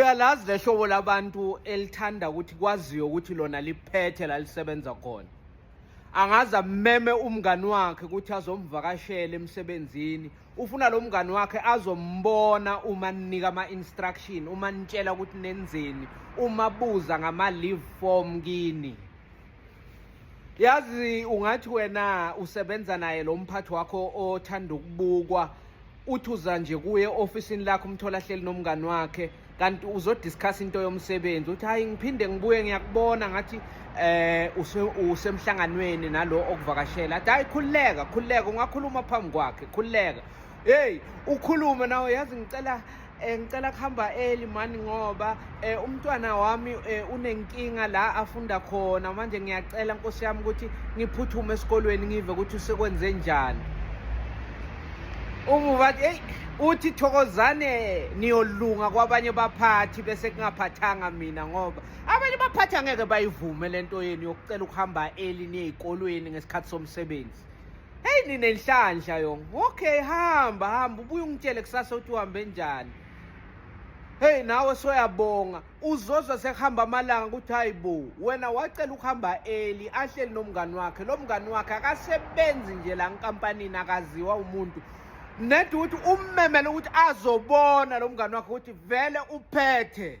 Uyalazi lehlobo labantu elithanda ukuthi kwaziwe ukuthi lona liphethe la lisebenza khona. Angaze ameme umngani wakhe ukuthi azomvakashela emsebenzini. Ufuna lo mngani wakhe azombona uma ninika ama-instruction, uma nitshela ukuthi nenzeni, uma buza ngama-leave form kini. yazi ungathi wena usebenza naye lo mphathi wakho othanda ukubukwa uthi uza nje kuye ofisini lakho umthola hleli nomngani wakhe kanti uzodiscuss into yomsebenzi uthi hayi ngiphinde ngibuye ngiyakubona ngathi eh usemhlanganweni nalo okuvakashela athi hayi khululeka khululeka ungakhuluma phambi kwakhe khululeka hey ukhulume nawe yazi ngicela Eh, ngicela kuhamba eli mani ngoba eh, umntwana wami eh, unenkinga la afunda khona manje ngiyacela nkosi yami ukuthi ngiphuthume esikolweni ngive ukuthi usekwenze njani umu bathi eyi uthi thokozane niyolunga kwabanye baphathi bese kungaphathanga mina ngoba abanye baphathi angeke bayivume le nto yenu yokucela ukuhamba eli niye ey'kolweni ngesikhathi somsebenzi Hey nina inhlanhla yong. Okay hamba hamba ubuye ungitshele kusasa uthi uhambe njani. Hey nawe soyabonga uzozwa sekuhamba amalanga ukuthi hayibo wena wacela ukuhamba eli ahleli nomngani wakhe lo mngani wakhe akasebenzi nje la nkampanini akaziwa umuntu nedi ukuthi ummemele ukuthi azobona lo mngani wakhe ukuthi vele uphethe